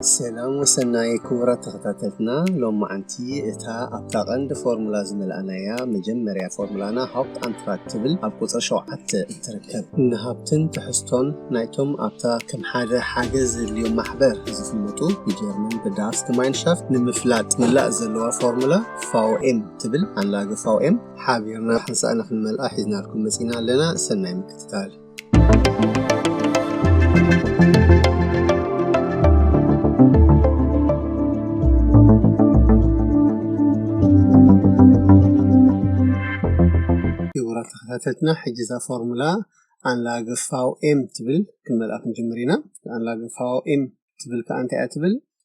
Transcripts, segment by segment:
ሰላም ወሰናይ ክቡራት ተኸታተልትና ሎማዓንቲ እታ ኣብታ ቀንዲ ፎርሙላ ዝመላእናያ መጀመርያ ፎርሙላና ሃውፕት ኣንትራክ ትብል ኣብ ቁፅሪ ሸውዓተ እትርከብ ንሃብትን ትሕዝቶን ናይቶም ኣብታ ከም ሓደ ሓገዝ ዘድልዮም ማሕበር ዝፍለጡ ብጀርመን ብዳርስ ግማይንሻፍት ንምፍላጥ ምላእ ዘለዋ ፎርሙላ ፋውኤም ትብል ኣንላገ ፋውኤም ሓቢርና ሓንሳእና ክንመልኣ ሒዝናልኩም መፂና ኣለና ሰናይ ምክትታል ክቡራት ተኸታተልትና ሕጂ እዛ ፎርሙላ ኣንላገ ፋው ኤም ትብል ክንመልኣ ክንጅምር ኢና ኣንላገ ፋው ኤም ትብል ከዓ እንታይ እያ ትብል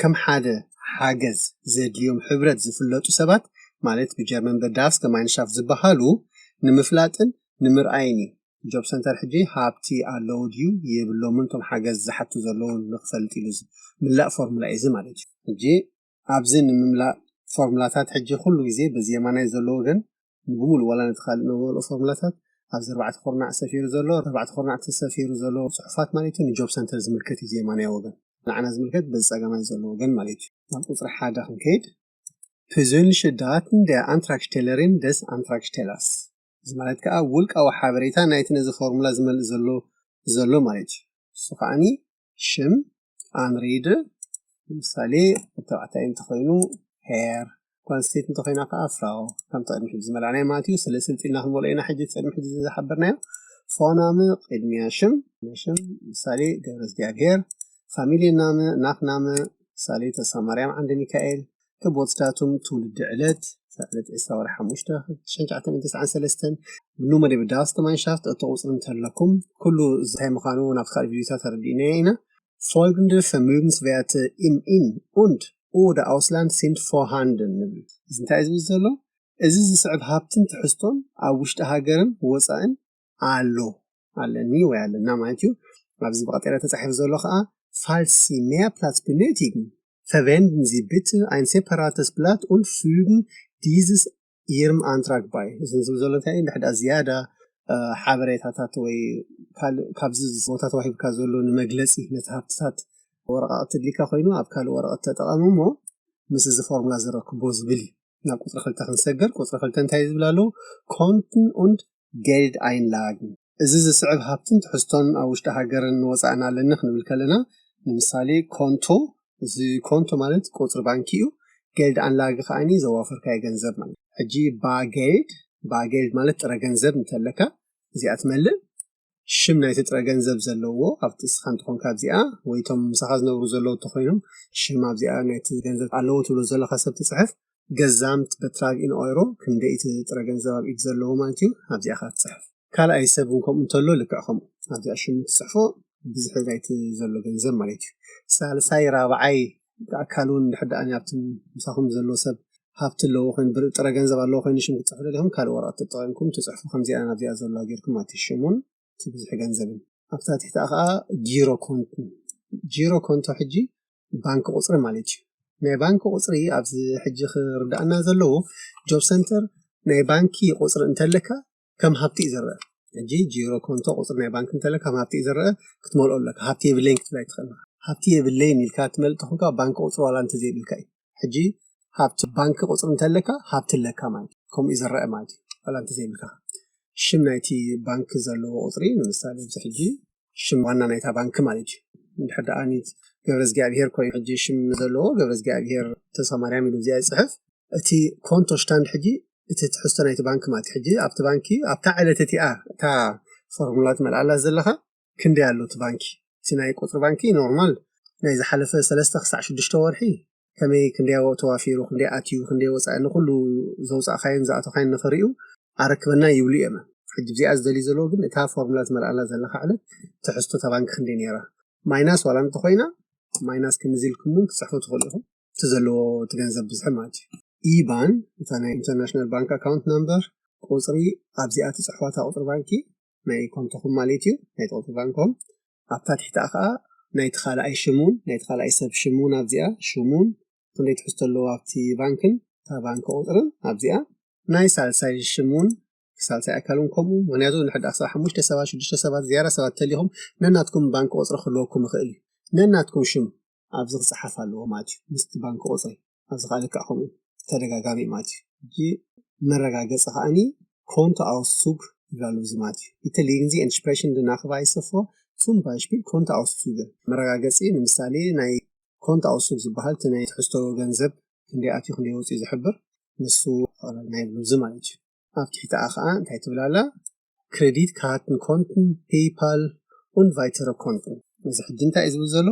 ከም ሓደ ሓገዝ ዘድልዮም ሕብረት ዝፍለጡ ሰባት ማለት ብጀርመን በዳስ ገማይንሻፍ ዝበሃሉ ንምፍላጥን ንምርኣይን እዩ። ጆብ ሰንተር ሕጂ ሃብቲ ኣለዉ ድዩ የብሎምን እቶም ሓገዝ ዝሓቱ ዘለዉ ንክፈልጥ ኢሉ ዝምላእ ፎርሙላ እዩ እዚ ማለት እዩ። ሕጂ ኣብዚ ንምምላእ ፎርሙላታት ሕጂ ኩሉ ግዜ በዚ የማናይ ዘሎ ወገን ንብሙሉ ዋላ ነቲ ካልእ ንመልኦ ፎርሙላታት ኣብዚ ኣርባዕተ ኩርናዕ ሰፊሩ ዘሎ ኣርባዕተ ኩርናዕ እቲ ሰፊሩ ዘሎ ጽሑፋት ማለት እዩ ንጆብ ሰንተር ዝምልከት እዩ እዚ የማናይ ወገን ንዓና ዝምልከት በዚ ጸጋማይ ዘሎ ወገን ማለት እዩ ናብ ቁጽሪ ሓደ ክንከይድ ፕዘንልሸ ዳትን ደ ኣንትራክሽቴለሪን ደስ ኣንትራክሽቴላስ እዚ ማለት ከዓ ውልቃዊ ሓበሬታ ናይቲ ነዚ ፎርሙላ ዝመልእ ዘሎ ዘሎ ማለት እዩ እሱ ከዓኒ ሽም ኣንሪድ ንምሳሌ ተባዕታይ እንተኾይኑ ሄር ጓል ኣንስተይቲ እንተኾይና ከዓ ፍራው ከምቲ ቅድሚ ሕጂ ዝመላእናዮ ማለት እዩ ስለ ስልጢ ኢልና ክንመልኦ ኢና ሕጂ ቅድሚ ሕጂ ዝሓበርናዮ ፎናም ቅድሚያ ሽም ሽም ምሳሌ ገብረ እግዚኣብሔር ፋሚልየ ናም ናት ናም ምሳሌ ተስፋ ማርያም ዓንደ ሚካኤል እቶም ወጽዳቶም ትውልዲ ዕለት ዕለት ዕስራ ወርሒ ሓሙሽተ ሽሕን ትሽዓተ ሚእትን ተስዓን ሰለስተን ኑ መደብ ዳስ ከማንሻፍት እተቑጽሩ እንተለኩም ኩሉ እንታይ ምዃኑ ናብቲ ካልእ ቪድዮታት ኣረዲእናዮ ኢና Folgende Vermögenswerte im In und oder Ausland sind vorhanden ንብል እዚ እንታይ እዩ ዝብል ዘሎ እዚ ዝስዕብ ሃብትን ትሕዝቶን ኣብ ውሽጢ ሃገርን ወጻእን ኣሎ ኣለኒ ወይ ኣለና ማለት እዩ ኣብዚ ብቀጤራ ተጻሒፉ ዘሎ ከዓ ፋልሲ ሜያፕላስ ብነቲግን ፈቨንድን ዚ ብት ኣይን ሴፐራተስ ብላት ን ፍግን ዲዝስ ይርም ኣንትራክ ባይ እዚ ዝብ ዘሎ እንታይ እዩ ንድሕዳ ዝያዳ ሓበሬታታት ወይ ካልእ ካብዚ ቦታ ተዋሂብካ ዘሎ ንመግለፂ ነቲ ሃብትታት ወረቃቅቲ ድሊካ ኮይኑ ኣብ ካልእ ወረቀት ተጠቐሙ እሞ ምስ እዚ ፎርሙላ ዝረክቦ ዝብል እዩ ናብ ቁፅሪ ክልተ ክንሰገር ቁፅሪ ክልተ እንታይ ዝብል ኣለዉ ኮንትን ኡንድ Geld einlagen እዚ ዝስዕብ ሃብትን ትሕዝቶን ኣብ ውሽጢ ሃገርን ንወጻእን ኣለኒ ክንብል ከለና ንምሳሌ ኮንቶ እዚ ኮንቶ ማለት ቁጽሪ ባንኪ እዩ Geld Anlage ከኣ ዘዋፈርካዮ ገንዘብ ማለት ሕጂ Bar Geld Bar Geld ማለት ጥረ ገንዘብ እንተለካ እዚኣ ትመልእ ሽም ናይቲ ጥረ ገንዘብ ዘለዎ ኣብቲ እስኻ እንተኾንካ ኣብዚኣ ወይ እቶም ምሳኻ ዝነብሩ ዘለዉ እንተኾይኖም ሽም ኣብዚኣ ናይቲ ገንዘብ ኣለዎ ትብሎ ዘለኻ ሰብ ትጽሕፍ ገዛምት በትራግ ኢን ኦይሮ ክንደይ እቲ ጥረ ገንዘብ ኣብ ኢድ ዘለዎ ማለት እዩ ኣብዚኣ ኸዓ ትጽሕፍ ካልኣይ ሰብ እውን ከምኡ እንተሎ ልክዕ ከምኡ ኣብዚኣ ሽሙ ትጽሕፎ ብዝሒ ናይቲ ዘሎ ገንዘብ ማለት እዩ ሳልሳይ ራብዓይ ብኣካል ውን እንድሕር ደኣ ኣብቲ ምሳኹም ዘሎ ሰብ ሃብቲ ኣለዎ ኮይኑ ብር ጥረ ገንዘብ ኣለዎ ኮይኑ ሽም ክትጽሕፉ ደሊኹም ካልእ ወረቐት ተጠቒምኩም ትጽሕፉ ከምዚኣ ኣብዚኣ ዘሎ ጌርኩም ማለት እዩ ሽሙን እቲ ብዝሒ ገንዘብን ኣብታ ትሕቲኣ ከኣ ጂሮ ኮንት ጂሮ ኮንቶ ሕጂ ባንክ ቁጽሪ ማለት እዩ ናይ ባንክ ቁጽሪ ኣብዚ ሕጂ ክርዳእና ዘለዎ ጆብ ሰንተር ናይ ባንኪ ቁጽሪ እንተለካ ከም ሃብቲ እዩ ዝረኣ ሕጂ ጂሮ ኮንቶ ቁፅሪ ናይ ባንኪ እንተለ ከም ሃብቲ እዩ ዝረኣ ክትመልኦ ኣለካ ሃብቲ የብለይን ክትብል ኣይትኽእልን ኢኻ ሃብቲ የብለይን ኢልካ ትመልእ ተኾንካ ባንኪ ቁፅሪ ዋላ እንተዘይብልካ እዩ ሕጂ ሃብቲ ባንኪ ቁፅሪ እንተለካ ሃብቲ ኣለካ ማለት እዩ ከምኡ እዩ ዝረኣ ማለት እዩ ዋላ እንተዘይብልካ ሽም ናይቲ ባንኪ ዘለዎ ቁፅሪ ንምሳሌ እዚ ሕጂ ሽም ዋና ናይታ ባንኪ ማለት እዩ እንድሕር ደኣ ገብረዝጊኣብሄር ኮይኑ ሕጂ ሽም ዘለዎ ገብረዝጊኣብሄር ተስፋማርያም ኢሉ እዚኣ ይፅሕፍ እቲ ኮንቶ ሽታንድ ሕጂ እቲ ትሕዝቶ ናይቲ ባንኪ ማለት ሕጂ ኣብቲ ባንኪ ኣብታ ዕለት እቲኣ እታ ፎርሙላ ትመልኣላ ዘለኻ ክንደይ ኣሎ እቲ ባንኪ እቲ ናይ ቁፅሪ ባንኪ ኖርማል ናይ ዝሓለፈ ሰለስተ ክሳዕ ሽዱሽተ ወርሒ ከመይ ክንደይ ኣብኡ ተዋፊሩ ክንደይ ኣትዩ ክንደይ ወጻኢ ንኹሉ ዘውጻእካዮን ዝኣተኻዮን ንኽርእዩ ኣረክበና ይብሉ እዮመ ሕጂ ብዚኣ ዝደልዩ ዘለዉ ግን እታ ፎርሙላ ትመልኣላ ዘለኻ ዕለት ትሕዝቶ እታ ባንኪ ክንደይ ነይራ ማይናስ ዋላ እንተኾይና ማይናስ ክንዚ ኢልኩም እውን ክትጽሕፉ ትኽእሉ ኢኹም እቲ ዘለዎ እቲ ገንዘብ ብዝሒ ማለት እዩ ኢባን እታ ናይ ኢንተርናሽናል ባንክ ኣካውንት ናምበር ቁጽሪ ኣብዚኣ ትጽሕፋታ ቁጽሪ ባንኪ ናይ ኮንቶኹም ማለት እዩ ናይ ጦቱ ባንኮም ኣብታ ትሕቲኣ ከዓ ናይቲ ካልኣይ ሽሙን ናይቲ ካልኣይ ሰብ ሽሙን ኣብዚኣ ሽሙን ክንደይ ትሕዝቶ ኣለዎ ኣብቲ ባንክን እታ ባንኪ ቁፅርን ኣብዚኣ ናይ ሳልሳይ ሽሙን ሳልሳይ ኣካልን ከምኡ ምክንያቱ ንሕዳ ክሳብ ሓሙሽተ ሰባት ሽዱሽተ ሰባት ዝያዳ ሰባት ተሊኹም ነናትኩም ባንኪ ቁፅሪ ክህልወኩም ይኽእል እዩ ነናትኩም ሽም ኣብዚ ክጸሓፍ ኣለዎ ማለት እዩ ምስቲ ባንክ ቁጽሪ ኣብዚ ከኣ ልክዕ ከምኡ ተደጋጋሚ እዩ ማለት እዩ መረጋገጺ ከኣኒ ኮንቶ ኣውሱግ ይብላ ኣሎ እዚ ማለት እዩ እቲ ሊንዚ ኤንሽፕሬሽን ድናክቫይሰ ፎ ሱም ባይሽፒል ኮንቶ ኣውሱግ መረጋገጺ ንምሳሌ ናይ ኮንቶ ኣውሱግ ዝበሃል እቲ ናይ ትሕዝቶ ገንዘብ ክንደይ ኣትዩ ክንደይ ወጺኡ ዝሕብር ንሱ ናይ ብሉዚ ማለት እዩ ኣብ ትሕቲኣ ኸኣ እንታይ ትብል ኣላ ክረዲት ካርድን ኮንትን ፔይፓል ኡንድ ቫይተረ ኮንትን እዚ ሕጂ እንታይ እዩ ዝብል ዘሎ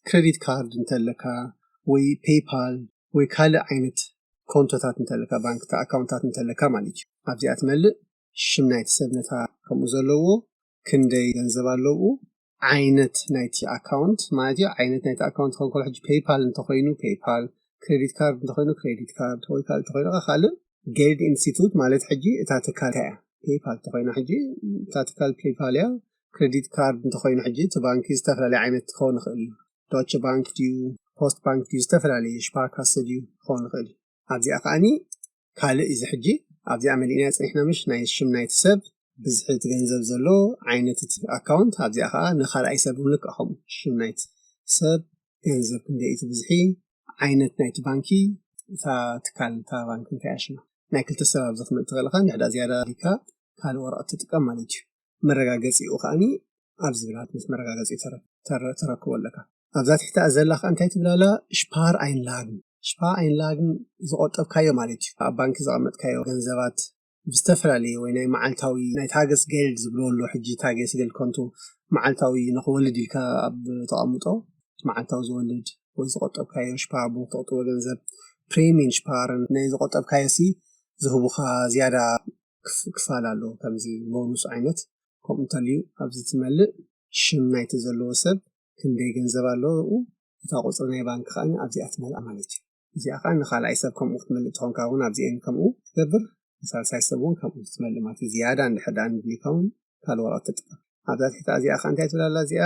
ክረዲት ካርድ እንተለካ ወይ ፔይፓል ወይ ካልእ ዓይነት ኮንቶታት እንተለካ ባንክታት ኣካውንታት እንተለካ ማለት እዩ ኣብዚኣ ትመልእ ሽም ናይቲ ሰብ ነታ ከምኡ ዘለዎ ክንደይ ገንዘብ ኣለዉ ዓይነት ናይቲ ኣካውንት ማለት እዩ ዓይነት ናይቲ ኣካውንት ከንኮሎ ሕጂ ፔይፓል እንተኮይኑ ፔይፓል ክሬዲት ካርድ እንተኮይኑ ክሬዲት ካርድ ወይ ካልእ እንተኮይኑ ከ ካልእ ገይድ ኢንስቲቱት ማለት ሕጂ እታ ትካል እንታይ እያ ፔይፓል እንተኮይና ሕጂ እታ ትካል ፔይፓል እያ ክሬዲት ካርድ እንተኮይኑ ሕጂ እቲ ባንኪ ዝተፈላለየ ዓይነት ክኸውን ይኽእል እዩ ዶቸ ባንክ ድዩ ፖስት ባንክ ድዩ ዝተፈላለየ ሽፓካሰ ድዩ ክኸውን ይኽእል እዩ ኣብዚኣ ከኣኒ ካልእ እዚ ሕጂ ኣብዚኣ መሊእናያ ጸኒሕና ምሽ ናይ ሽም ናይቲ ሰብ ብዝሒ እቲ ገንዘብ ዘሎ ዓይነት እቲ ኣካውንት ኣብዚኣ ከኣ ንኻልኣይ ሰብ እውን ልክዕ ከምኡ ሽም ናይቲ ሰብ ገንዘብ ክንደይ እቲ ብዝሒ ዓይነት ናይቲ ባንኪ እታ ትካል እታ ባንኪ እንታይ እያ ሽማ ናይ ክልተ ሰብ ኣብዚ ክምእትኽእል ኢኻ ንሕዳ ዝያዳ ዲካ ካልእ ወረቐት ትጥቀም ማለት እዩ መረጋገጺኡ ከኣኒ ኣብዚ ብላት ምስ መረጋገጺኡ ተረክቦ ኣለካ ኣብዛ ትሕቲ ዘላ ከኣ እንታይ ትብል ኣላ ሽፓር ኣይንላግ ሽፓር ኣይንላግ ዝቆጠብካዮ ማለት እዩ ኣብ ባንኪ ዘቐመጥካዮ ገንዘባት ብዝተፈላለየ ወይ ናይ መዓልታዊ ናይ ታገስ ገልድ ዝብሎ ኣሎ ሕጂ ታገስ ገልድ ኮንቱ መዓልታዊ ንክወልድ ኢልካ ኣብ ተቐምጦ መዓልታዊ ዝወልድ ወይ ዝቆጠብካዮ ሽፓር ብ ተቕጥቦ ገንዘብ ፕሪሚን ሽፓርን ናይ ዝቆጠብካዮ ሲ ዝህቡኻ ዝያዳ ክፋል ኣሎ ከምዚ ቦኑስ ዓይነት ከምኡ እንተልዩ ኣብዚ ትመልእ ሽም ናይቲ ዘለዎ ሰብ ክንደይ ገንዘብ ኣለዉ እታ ቁፅሪ ናይ ባንክ ከዓ ኣብዚኣ ትመልኣ ማለት እዩ እዚኣ ከዓ ንካልኣይ ሰብ ከምኡ ክትመልእ ትኾንካ እውን ኣብዚኤን ከምኡ ትገብር ንሳልሳይ ሰብ እውን ከምኡ ክትመልእ ማለት እዩ ዝያዳ እንድሕር ድኣ ንድሊካ እውን ካልእ ወረቀት ትጥቀም ኣብዛ ትሕቲ እዚኣ ከዓ እንታይ ትብል ኣላ እዚኣ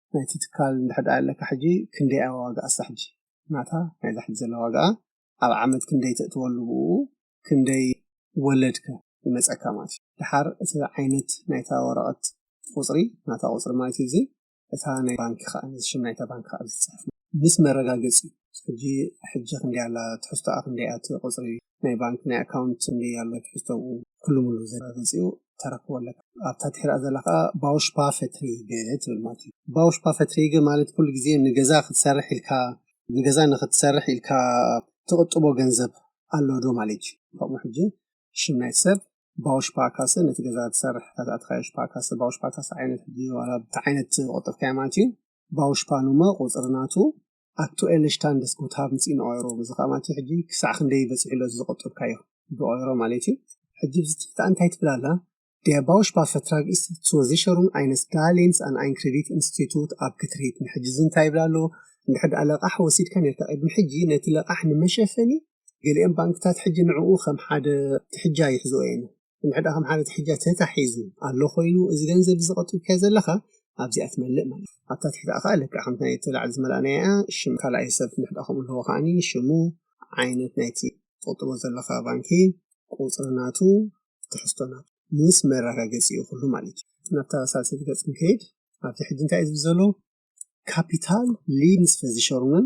ናይቲ ትካል እንድሕር ደኣ ኣለካ ሕጂ ክንደይ እያ ዋጋኣ እሳ ሕጂ ናታ ናይዛ ሕጂ ዘላ ዋጋኣ ኣብ ዓመት ክንደይ ተእትወሉ ብእኡ ክንደይ ወለድ ከ ይመጸካ ማለት እዩ ደሓር እቲ ዓይነት ናይታ ወረቐት ቁጽሪ ናታ ቁጽሪ ማለት እዩ እዚ እታ ናይ ባንኪ ከኣ ነዚ ሽም ናይታ ባንኪ ከኣ ዝጽሕፍ ምስ መረጋገጺ ሕጂ ሕጂ ክንደይ ኣላ ትሕዝቶኣ ክንደይ እያ እቲ ቁጽሪ ናይ ባንክ ናይ ኣካውንት ጽምዲ ኣሎ ትሕዝቶኡ ኩሉ ሙሉ ዘረጋግጽዩ ተረክቦ ኣለካ ኣብታ ትሕርኣ ዘላ ከኣ ባውሽፓ ፈትሪገ ትብል ማለት ባውሽፓ ፈትሪገ ማለት ኩሉ ግዜ ንገዛ ክትሰርሕ ኢልካ ንገዛ ንክትሰርሕ ኢልካ ትቕጥቦ ገንዘብ ኣሎ ዶ ማለት እዩ ከምኡ ሕጂ ሽም ናይ ሰብ ባውሽፓ ካሰ ነቲ ገዛ ትሰርሕ ታትኣትካዮ ሽፓ ካሰ ባውሽፓ ካሰ ዓይነት ሕጂ ዋላ ብቲ ዓይነት ቆጠብካዮ ማለት እዩ ባውሽፓ ኑመ ቁጽሪ ናቱ ኣክቱኤለ ሽታንደስ ጉትሃብ ንጽ ኢን ኦይሮ እዚ ከኣ ማለት ሕጂ ክሳዕ ክንደይ በጺሑ ኣሎ እዚ ዘቆጠብካዮ ብኦይሮ ማለት እዩ ሕጂ ኣብዚ ትሕቲ ከኣ እንታይ ትብል ኣላ Der Bausparvertrag ist zur Sicherung eines Darlehens an ein Kreditinstitut abgetreten ሕጂ እዚ እንታይ ይብል ኣሎ እንድሕር ደኣ ለቓሕ ወሲድካ ነርካ ቅድሚ ሕጂ ነቲ ለቓሕ ንመሸፈኒ ገሊኦም ባንክታት ሕጂ ንዕኡ ከም ሓደ ትሕጃ ይሕዝኦ እየን ብምሕዳ ከም ሓረቲ ሕጃ ተታሒዙ ኣሎ ኮይኑ እዚ ገንዘብ እዚ ቆጢብካዮ ዘለኻ ኣብዚኣ ትመልእ ማለት ኣብታ ትሕታኣ ከኣ ልክዕ ከምቲ ናይ ተላዕሊ ዝመላእናያ እያ ሽም ካልኣይ ሰብ ምሕዳ ከምኡ ኣለዎ ከኣኒ ሽሙ ዓይነት ናይቲ ትቁጥቦ ዘለኻ ባንኪ ቁጽሪ ናቱ ትሕዝቶ ናቱ ምስ መረጋገጺኡ ኩሉ ማለት እዩ ናብታ ሳልሰይቲ ገጽ ክንከይድ ኣብቲ ሕጂ እንታይ እዩ ዝብል ዘሎ ካፒታል ሊንስ ፈዚሸሩንን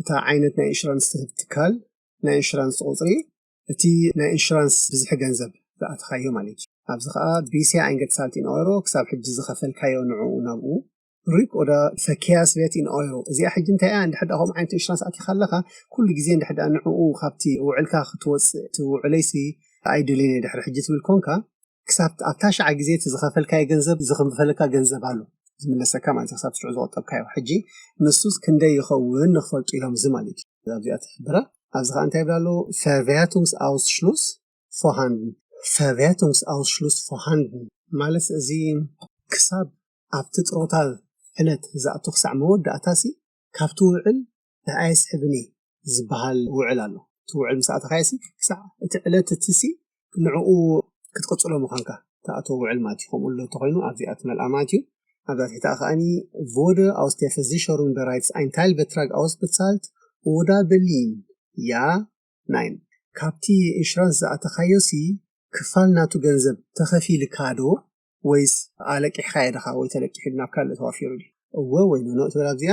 እታ ዓይነት ናይ ኢንሹራንስ ትህብ ትካል ናይ ኢንሹራንስ ቁፅሪ እቲ ናይ ኢንሹራንስ ብዝሒ ገንዘብ ዝኣተኻዮ ማለት እዩ። ኣብዚ ከዓ ቢሲያ ኣይንገትሳልት ኢን ኦይሮ ክሳብ ሕጂ ዝኸፈልካዮ ንዕኡ ናብኡ ሪክ ኦዳ ፈኪያስ በት ኢን ኦይሮ እዚኣ ሕጂ እንታይ እያ እንድሕር ከምኡ ዓይነት ኢንሹራንስ ኣቲኻ ኣለኻ ኩሉ ግዜ እንድሕር ንዕኡ ካብቲ ውዕልካ ክትወፅእ እቲ ውዕለይሲ ኣይደልዮን እየ ድሕሪ ሕጂ ትብል ኮንካ ክሳብ ኣብ ታሽዓ ግዜ እቲ ዝኸፈልካዮ ገንዘብ ዝኽንፈለካ ገንዘብ ኣሎ ዝምለሰካ ማለት እዩ ክሳብ ሽዑ ዝቆጠብካዮ ሕጂ ንሱስ ክንደይ ይኸውን ንክፈልጡ ኢሎም እዚ ማለት እዩ ኣብዚኣ ትሕብራ ኣብዚ ከዓ እንታይ ይብላ ኣለዎ ፈርቨያቱንግስ ኣውስሽሉስ ፎሃንድን ፈርቨያቱንግስ ኣውስሽሉስ ፎሃንድን ማለት እዚ ክሳብ ኣብቲ ጥሮታ ዕለት ዝኣቱ ክሳዕ መወዳእታሲ ካብቲ ውዕል እንታይ ኣይስሕብን'የ ዝበሃል ውዕል ኣሎ። እቲ ውዕል ምስ ኣተኻዮሲ ክሳዕ እቲ ዕለት እቲሲ ንዕኡ ክትቅጽሎ ምዃንካ ትኣትዎ ውዕል ማለት እዩ። ከምኡ እሎ እንተኾይኑ ኣብዚኣ ትመልኣ ማለት እዩ። ኣብዛ ትሕቲኣ ከኣኒ ቮደ ኣውስ ዴር ቨርዚሸሩንግ በራይትስ ኣይ ንታይል በትራግ ኣውስበትሳልት ኦዳ በሊን ያ ናይን ካብቲ ኢንሹራንስ ዝኣተኻዮሲ ክፋል ናቱ ገንዘብ ተኸፊልካዶ ወይስ ኣለቂሕኻዮ ድኻ ወይ ተለቂሑ ናብ ካልእ ተዋፊሩ ድዩ እወ ወይ ኖኖ ትብል ኣብዚኣ።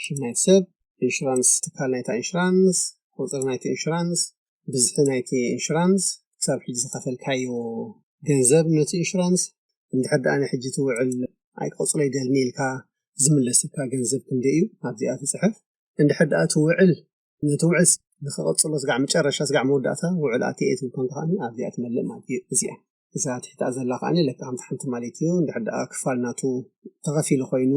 ሽም ናይቲ ሰብ፣ ኢንሹራንስ ትካል ናይታ ኢንሹራንስ፣ ቁጽሪ ናይቲ ኢንሹራንስ፣ ብዝሒ ናይቲ ኢንሹራንስ፣ ክሳብ ሕጂ ዝኸፈልካዮ ገንዘብ ነቲ ኢንሹራንስ፣ እንድሕር ድኣ ናይ ሕጂ እቲ ውዕል ኣይክቕጽሎ ይደልኒ ኢልካ ዝምለሰካ ገንዘብ ክንደይ እዩ፣ ኣብዚኣ ትጽሕፍ፣ እንድሕር ድኣ እቲ ውዕል ነቲ ውዕል ንክቕጽሎ ስጋዕ መጨረሻ ስጋዕ መወዳእታ ውዕል ኣትየ እየ ትብል ከዓኒ ኣብዚኣ ትመልእ ማለት እዩ እዚኣ እዛ ትሕቲኣ ዘላ ከዓኒ ለካ ከምቲ ሓንቲ ማለት እዩ እንድሕር ደኣ ክፋል ናቱ ተኸፊሉ ኮይኑ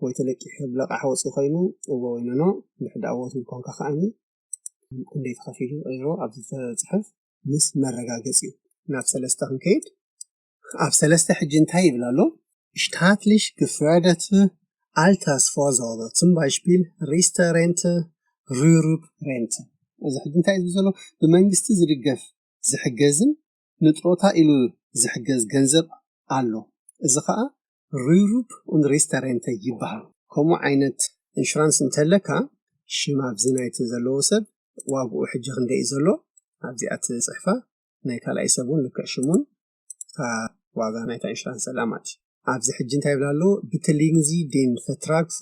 ወይ ተለቂሑ ብለቃሕ ወፂ ኮይኑ እዎ ወይ ኖኖ እንድሕር ደኣ እዎ ትብል ኮንካ ከዓኒ ክንደይ ተኸፊሉ ሮ ኣብዚ ተፅሕፍ ምስ መረጋገፂ እዩ ናብ ሰለስተ ክንከይድ ኣብ ሰለስተ ሕጂ እንታይ ይብል ኣሎ ሽታትሊሽ ግፍረደት ኣልተስ ፎዞሮ ትምባይሽፒል ሪስተሬንት ሩሩብ ሬንት እዚ ሕጂ እንታይ እዩ ዘሎ ብመንግስቲ ዝድገፍ ዝሕገዝን ንጥሮታ ኢሉ ዝሕገዝ ገንዘብ ኣሎ እዚ ከዓ ሩሩብ ሪስተሬንት ይበሃል ከምኡ ዓይነት ኢንሹራንስ እንተለካ ሽም ኣብዚ ናይቲ ዘለዎ ሰብ ዋግኡ ሕጂ ክንደይ እዩ ዘሎ ኣብዚኣ ትፅሕፋ ናይ ካልኣይ ሰብ እውን ልክዕ ሽሙን እታ ዋጋ ናይታ ኢንሹራንስ ዘላ ማለት እዩ ኣብዚ ሕጂ እንታይ ይብላ ኣሎ ብትሊንዚ ዲን ፈትራግፎ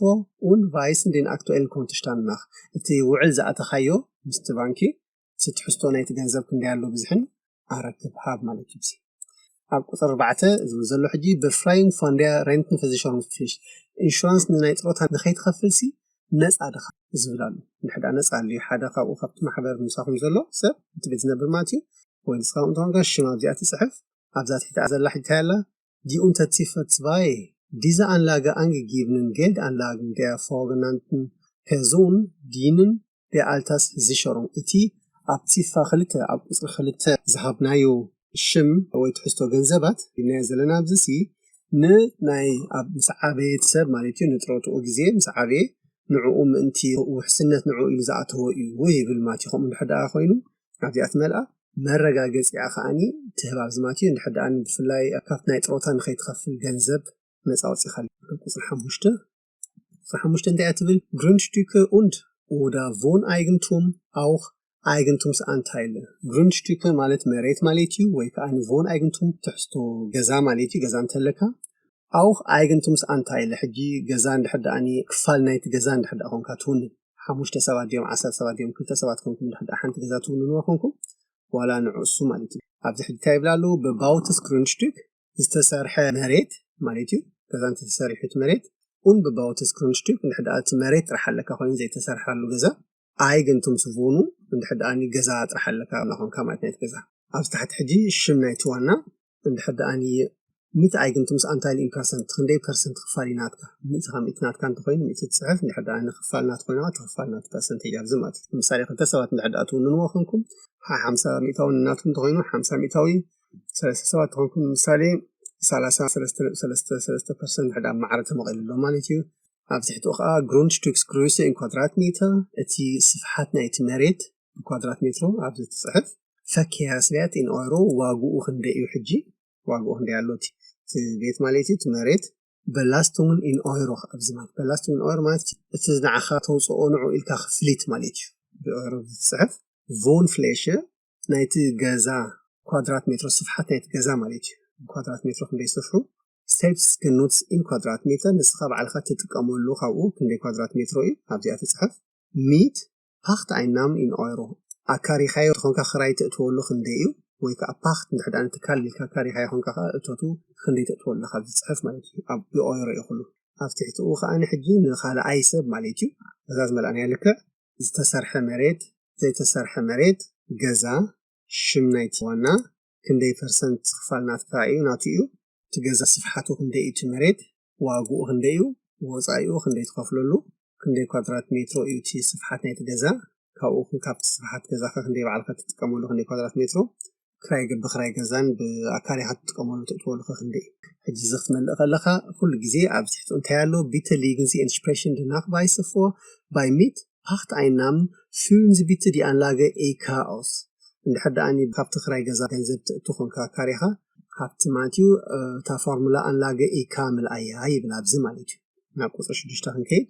ኡን ቫይስን ዲን ኣክትኤል ኮንትሽታንናኽ እቲ ውዕል ዝኣተኻዮ ምስቲ ባንኪ እቲ ትሕዝቶ ናይቲ ገንዘብ ክንደይ ኣሎ ብዝሕን ኣረክብ ሃብ ማለት እዩ ኣብ ቁፅሪ ኣርባዕተ እዚ እውን ዘሎ ሕጂ ብፍራይን ፋንድያ ሬንትን ፈዚሻውን ፍሽ ኢንሹራንስ ንናይ ጥሮታ ንኸይትኸፍል ሲ ነፃ ድኻ ዝብል ኣሎ ንሕዳ ነፃ ኣሉ ሓደ ካብኡ ካብቲ ማሕበር ምሳኹም ዘሎ ሰብ እቲ ቤት ዝነብር ማለት እዩ ወይ ንስኻ እንተኾንካ ሽም ኣብዚኣ ትፅሕፍ ኣብዛ ትሕቲኣ ዘላ ሕጂ እንታይ ኣላ ዲ ኡንተትሲፈት ዝባየ ዲዘ ኣንላገ ኣንግጊብንን ጌልድ ኣንላግን ደያ ፎገናንትን ፐርዞን ዲንን de Alterssicherung፣ እቲ ኣብ ቲፋ ክልተ ኣብ ቁጽሪ ክልተ ዝሃብናዮ ሽም ወይ ትሕዝቶ ገንዘባት ኢልናዮ ዘለና ኣብዚሲ ን ናይ ኣብ ምስ ዓበየት ሰብ ማለት እዩ ንጥሮትኡ ግዜ ምስ ዓበየ ንዕኡ ምእንቲ ውሕስነት ንዕኡ ኢሉ ዝኣተዎ እዩ ይብል ማቲ ከምኡ እንድሕር ደኣ ኮይኑ ኣብዚኣ ትመልኣ መረጋገጺኣ ከኣኒ ትህብ ኣብዚ ማቲ እንድሕር ደኣ ብፍላይ ካብቲ ናይ ጥሮታ ንኸይትኸፍል ገንዘብ ነጻ ወጺኻ ቁጽሪ ሓሙሽተ ሓሙሽተ እንታይ እያ ትብል ግሩንድሽቲከ ኡንድ ኡዳ ቮን ኣይግንቱም ኣውኽ ኣይግንቱምስ ኣንታይለ ግሩንድሽቲከ ማለት መሬት ማለት እዩ ወይ ከዓ ንቮን ኣይግንቱም ትሕዝቶ ገዛ ማለት እዩ ገዛ እንተለካ ኣውኽ ኣይግንቱምስ ኣንታይለ ሕጂ ገዛ እንድሕር ደኣኒ ክፋል ናይቲ ገዛ እንድሕር ደኣ ኮንካ ትውንን ሓሙሽተ ሰባት ድዮም ዓሰርተ ሰባት ድዮም ክልተ ሰባት ኮንኩም እንድሕር ደኣ ሓንቲ ገዛ ትውንንዋ ኮንኩም ዋላ ንዕሱ ማለት እዩ ኣብዚ ሕጂ እንታይ ይብላ ኣለዉ በባውትስ ግሩንድሽቲክ ዝተሰርሐ መሬት ማለት እዩ ገዛ እንተተሰሪሑ እቲ መሬት ኡን ብባውት ስክሩንሽቲፕ እንድሕር እቲ መሬት ጥራሕ ኣለካ ኮይኑ ዘይተሰርሓሉ ገዛ ኣይ ግን ቱም ስቮኑ እንድሕር ደኣኒ ገዛ ጥራሕ ኣለካ ናኾንካ ማለት ናይቲ ገዛ ኣብዚ ታሕቲ ሕጂ ሽም ናይቲ ዋና እንድሕር ደኣኒ ሚት ኣይ ግን ቱምስ ኣንታይል ኢን ፐርሰንት ክንደይ ፐርሰንት ክፋል እዩ ናትካ ሚእቲ ካብ ሚእቲ ናትካ እንተኮይኑ ሚእቲ ትፅሕፍ እንድሕር ደኣኒ ክፋል ናት ኮይና ትክፋል ናት ፐርሰንቴጅ ኣብዚ ማለት እዩ ምሳሌ ክልተ ሰባት እንድሕር ደኣ ትውንንዎ ኮንኩም ሓምሳ ሚእታዊ ናትኩም እንተኮይኑ ሓምሳ ሚእታዊ ሰለስተ ሰባት ተኾንኩም ንምሳሌ ሰላሳ ሰለስተ ነጥቢ ሰለስተ ሰለስተ ፐርሰንት ድሕር ዳኣ ማዕረ ተመቒሉ ኣሎ ማለት እዩ። ኣብ ትሕቲኡ ኸኣ ግሩንድሽትሪክ ግሩይሰ ኢን ኳድራት ሜትር እቲ ስፍሓት ናይቲ መሬት ብኳድራት ሜትሮ ኣብዚ ትጽሕፍ ፈክሄያስብያት ኢን ኦሮ ዋግኡ ክንደይ እዩ ሕጂ ዋግኡ ክንደይ ኣሎ እቲ ቤት ማለት እዩ እቲ መሬት በላስቶምን ኢን ኦሮ ኣብዚ ማለት በላስቶምን ኢን ኦሮ ማለት እቲ ንዓኻ ተውጽኦ ንዕኡ ኢልካ ክፍሊት ማለት እዩ ብኦሮ ዝጽሕፍ ቮን ፍሌሸ ናይቲ ገዛ ኳድራት ሜትሮ ስፍሓት ናይቲ ገዛ ማለት እዩ ኳድራት ሜትሮ ክንደይ ስፍሑ ስቴፕስ ግን ኖትስ ኢን ኳድራት ሜትሮ ንስኻ ባዕልኻ ትጥቀመሉ ካብኡ ክንደይ ኳድራት ሜትሮ እዩ ኣብዚኣ ትፅሕፍ ሚት ፓክት ኣይናም ኢን ኦይሮ ኣካሪኻዮ ትኾንካ ክራይ ትእትወሉ ክንደይ እዩ ወይ ከዓ ፓክት ንድሕዳ ንትካል ኢልካ ኣካሪኻዮ ኾንካ ከዓ እቶቱ ክንደይ ትእትወሉ ኣለካ ኣብዚ ፅሕፍ ማለት እዩ ኣብ ኦይሮ እዩ ኩሉ ኣብ ትሕትኡ ከዓ ንሕጂ ንካልኣይ ሰብ ማለት እዩ እዛ ዝመልኣናያ ልክዕ ዝተሰርሐ መሬት ዘይተሰርሐ መሬት ገዛ ሽም ናይቲ ዋና ክንደይ ፐርሰንት ክፋል ናትካ እዩ ናቱ እዩ እቲ ገዛ ስፍሓቱ ክንደይ እዩ እቲ መሬት ዋግኡ ክንደይ እዩ ወፃኢኡ ክንደይ ትኸፍለሉ ክንደይ ኳድራት ሜትሮ እዩ እቲ ስፍሓት ናይቲ ገዛ ካብኡ ካብቲ ስፍሓት ገዛኻ ክንደይ ባዕልካ ትጥቀመሉ ክንደይ ኳድራት ሜትሮ ክራይ ገብ ብክራይ ገዛን ብኣካሪኻ ትጥቀመሉ ትእትወሉ ከ ክንደይ እዩ? ሕጂ እዚ ክትመልእ ከለኻ ኩሉ ግዜ ኣብ ትሕቲ እንታይ ኣሎ ቢተ ሊግን ዚ ኢንስፕሬሽን ድ ናክባይሰ ፎ ባይ ሚት ፓክት ኣይናም ፍዩን ዚ ቢተ ዲ ኣንላገ ኤይ ካኦስ እንድሕር ደኣኒ ካብቲ ክራይ ገዛ ገንዘብ ትእቱ ኮንካ ኣካሪኻ ሃብቲ ማለት እዩ እታ ፎርሙላ ኣንላገ ኤይ ካምል ኣያ ይብል ኣብዚ ማለት እዩ ናብ ቁጽሪ ሽዱሽተ ክንከይድ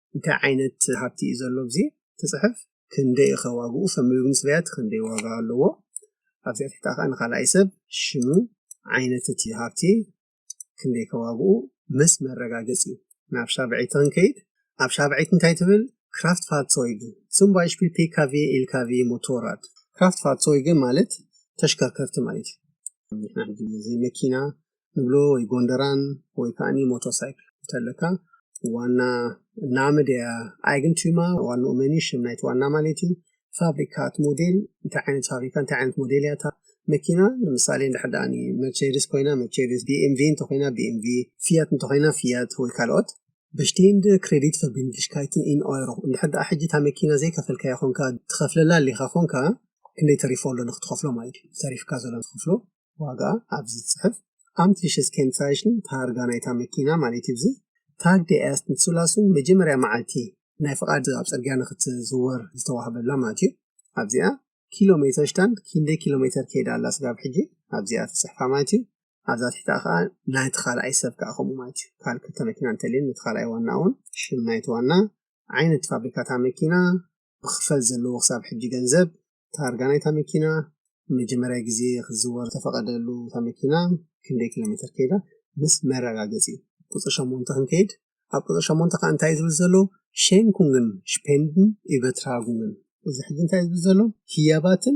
እንታይ ዓይነት ሃብቲ እዩ ዘሎ ኣብዚ ትፅሕፍ ክንደይ እኸ ዋግኡ ሰብ ምግቢ ምስ በልዐ ክንደይ ዋጋ ኣለዎ ኣብዚኣ ትሕታ ከዓ ንካልኣይ ሰብ ሽሙ ዓይነት እቲ ሃብቲ ክንደይ ከ ዋግኡ ምስ መረጋገፂ ናብ ሻብዐይት ክንከይድ ኣብ ሻብዐይት እንታይ ትብል ክራፍት ፋርሶይግ ስም ባይሽፒል ፒካቪ ኢልካቪ ሞቶራት ክራፍት ፋርሶይግ ማለት ተሽከርከርቲ ማለት እዩ ንሕና ሕጂ እዚ መኪና ንብሎ ወይ ጎንደራን ወይ ከኣኒ ሞቶ ሳይክል እንተለካ ዋና ናምድያ ኣይግንቱማ ዋንኡ መኒ ሽም ናይቲ ዋና ማለት እዩ ፋብሪካት ሞዴል እንታይ ዓይነት ፋብሪካ እንታይ ዓይነት ሞዴል ያታ መኪና ንምሳሌ እንድሕር ደኣ መርቸዲስ ኮይና መርቸዲስ ቢኤምቪ እንተኮይና ቢኤምቪ ፍያት እንተኮይና ፍያት ወይ ካልኦት በሽቴንድ ክሬዲት ፈርቢንድሽካይትን ኢን ኦይሮ እንድሕር ደኣ ሕጂ እታ መኪና ዘይከፈልካያ ኮንካ ትኸፍለላ ኣሊኻ ኮንካ ክንደይ ተሪፎ ኣሎ ንክትኸፍሎ ማለት እዩ ተሪፍካ ዘሎ ንክትኸፍሎ ዋጋ ኣብዚ ጽሑፍ ኣምትሊሸስ ኬንትራይሽን ታርጋ ናይታ መኪና ማለት እዩ። ታግ ዴ ኤርስት ንትሱላሱን መጀመርያ መዓልቲ ናይ ፍቓድ ኣብ ጽርግያ ንኽትዝወር ዝተዋህበላ ማለት እዩ። ኣብዚኣ ኪሎ ሜተር ሽታንድ ኪንደይ ኪሎ ሜተር ከይዳ ኣላ ስጋብ ሕጂ ኣብዚኣ ተጽሕፋ ማለት እዩ። ኣብዛ ትሕቲኣ ከኣ ናይቲ ካልኣይ ሰብ ከኣ ከምኡ ማለት እዩ። ካል ክልተ መኪና እንተልየን ነቲ ካልኣይ ዋና'ውን ሽም ናይቲ ዋና፣ ዓይነት ፋብሪካ እታ መኪና፣ ብክፈል ዘለዎ ክሳብ ሕጂ ገንዘብ፣ ታርጋ ናይታ መኪና፣ ንመጀመርያ ግዜ ክትዝወር ዝተፈቐደሉ እታ መኪና ክንደይ ኪሎሜተር ከይዳ ምስ መረጋገጺ። ቁጽሪ ሸሞንተ ክንከይድ፣ ኣብ ቁጽሪ ሸሞንተ ከኣ እንታይ እዩ ዝብል ዘሎ Schenkungen፣ Spenden፣ Übertragungen። እዚ ሕጂ እንታይ እዩ ዝብል ዘሎ? ህያባትን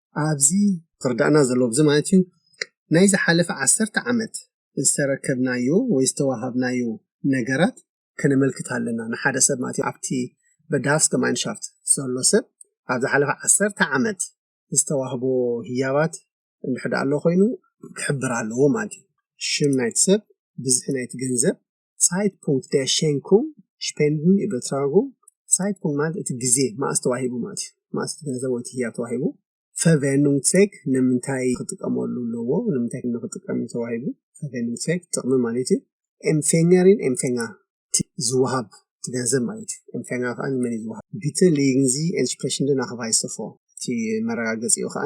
ኣብዚ ዝርዳእና ዘሎ ብዚ ማለት እዩ ናይ ዝሓለፈ ዓሰርተ ዓመት ዝተረከብናዮ ወይ ዝተዋሃብናዮ ነገራት ከነመልክት ኣለና ንሓደ ሰብ ማለት ኣብቲ በዳሃፍስ ገማይንሻፍት ዘሎ ሰብ ኣብ ዝሓለፈ ዓሰርተ ዓመት ዝተዋህቦ ህያባት እንድሕዳ ኣሎ ኮይኑ ክሕብር ኣለዎ ማለት እዩ ሽም ናይቲ ሰብ ብዝሒ ናይቲ ገንዘብ ሳይድፑንክት ዴር ሼንኩንግ ስፔንድን ኢበትራጉንግ፣ ሳይድፑንክት ማለት እቲ ግዜ መኣስ ተዋሂቡ ማለት እዩ፣ መኣስ እቲ ገንዘብ ወይ እቲ ህያብ ተዋሂቡ፣ ፈርቨኑንግትሴክ ንምንታይ ክጥቀመሉ ኣለዎ፣ ንምንታይ ንክጥቀም እዩ ተዋሂቡ፣ ፈርቨኑንግትሴክ ጥቕሚ ማለት እዩ፣ ኤምፌንገሪን ኤምፌንጋር እቲ ዝወሃብ እቲ ገንዘብ ማለት እዩ፣ ኤምፌንጋር ከኣ ንመን እዩ ዝወሃብ፣ ቢተ ሌይንግዚ ኤንስፕሬሽንደ ናክቫይሰ ፎር እቲ መረጋገጺኡ ከኣ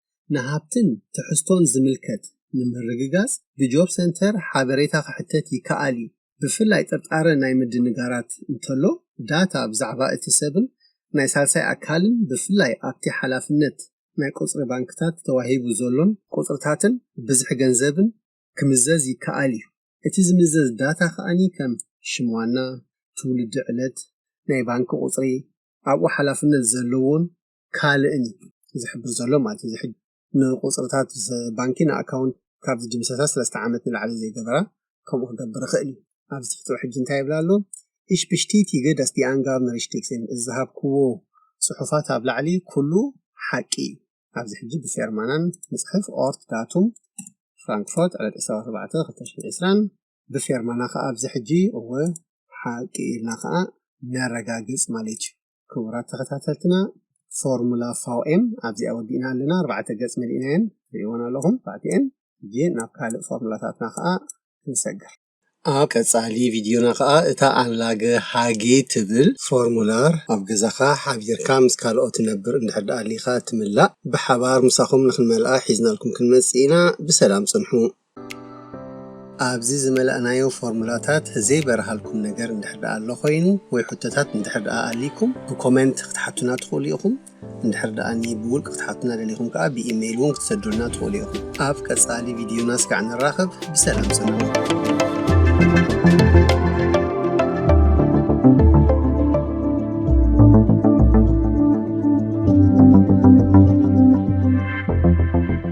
ንሃብትን ትሕዝቶን ዝምልከት ንምርግጋጽ ብጆብ ሰንተር ሓበሬታ ክሕተት ይከኣል እዩ። ብፍላይ ጥርጣረ ናይ ምድንጋራት እንተሎ፣ ዳታ ብዛዕባ እቲ ሰብን ናይ ሳልሳይ ኣካልን ብፍላይ ኣብቲ ሓላፍነት ናይ ቁጽሪ ባንክታት ተዋሂቡ ዘሎን ቁጽርታትን ብዝሒ ገንዘብን ክምዘዝ ይከኣል እዩ። እቲ ዝምዘዝ ዳታ ከኣ ከም ሽም ዋና፣ ትውልዲ ዕለት፣ ናይ ባንክ ቁጽሪ፣ ኣብኡ ሓላፍነት ዘለዎን ካልእን እዩ ዝሕብር ዘሎ ማለት እዩ። ዝሕግ ንቁፅርታት ባንኪ ንኣካውንት ካብ ዝድምሰሳ ሰለስተ ዓመት ንላዕሊ ዘይገበራ ከምኡ ክገብር ይኽእል እዩ። ኣብዚ ትሕቲ ሕጂ እንታይ ይብል ኣሎ? Ich bestätige, dass die Angaben richtig sind. እዚ ዝሃብክዎ ፅሑፋት ኣብ ላዕሊ ኩሉ ሓቂ እዩ። ኣብዚ ሕጂ ብፌርማናን ንፅሕፍ ኦርት ዳቱም ፍራንክፎርት ዕለት 24/2020 ብፌርማና ከዓ ኣብዚ ሕጂ እወ ሓቂ ኢልና ከዓ ነረጋግፅ ማለት እዩ። ክቡራት ተኸታተልትና ፎርሙላ ፋውኤም ኣብዚኣ ወዲእና ኣለና ኣርባዕተ ገጽ መሊእናየን ርእዎን ኣለኹም ባዕቲኤን ሕጂ ናብ ካልእ ፎርሙላታትና ከዓ ክንሰግር ኣብ ቀጻሊ ቪድዮና ከዓ እታ ኣንላገ ሃጌ ትብል ፎርሙላር ኣብ ገዛኻ ሓቢርካ ምስ ካልኦት ትነብር እንድሕር ደኣ ኣሊኻ ትምላእ ብሓባር ምሳኹም ንክንመልኣ ሒዝናልኩም ክንመጽእ ኢና ብሰላም ጽንሑ ኣብዚ ዝመላእናዮ ፎርሙላታት ዘይበርሃልኩም ነገር እንድሕር ደኣ ኣሎ ኮይኑ ወይ ሕቶታት እንድሕር ደኣ ኣልይኩም ብኮመንት ክትሓቱና ትኽእሉ ኢኹም። እንድሕር ደኣ ብውልቂ ክትሓቱና ደሊኹም ከኣ ብኢመይል እውን ክትሰዱልና ትኽእሉ ኢኹም። ኣብ ቀጻሊ ቪድዮና እስካዕ ንራኸብ ብሰላም ጽንሑ።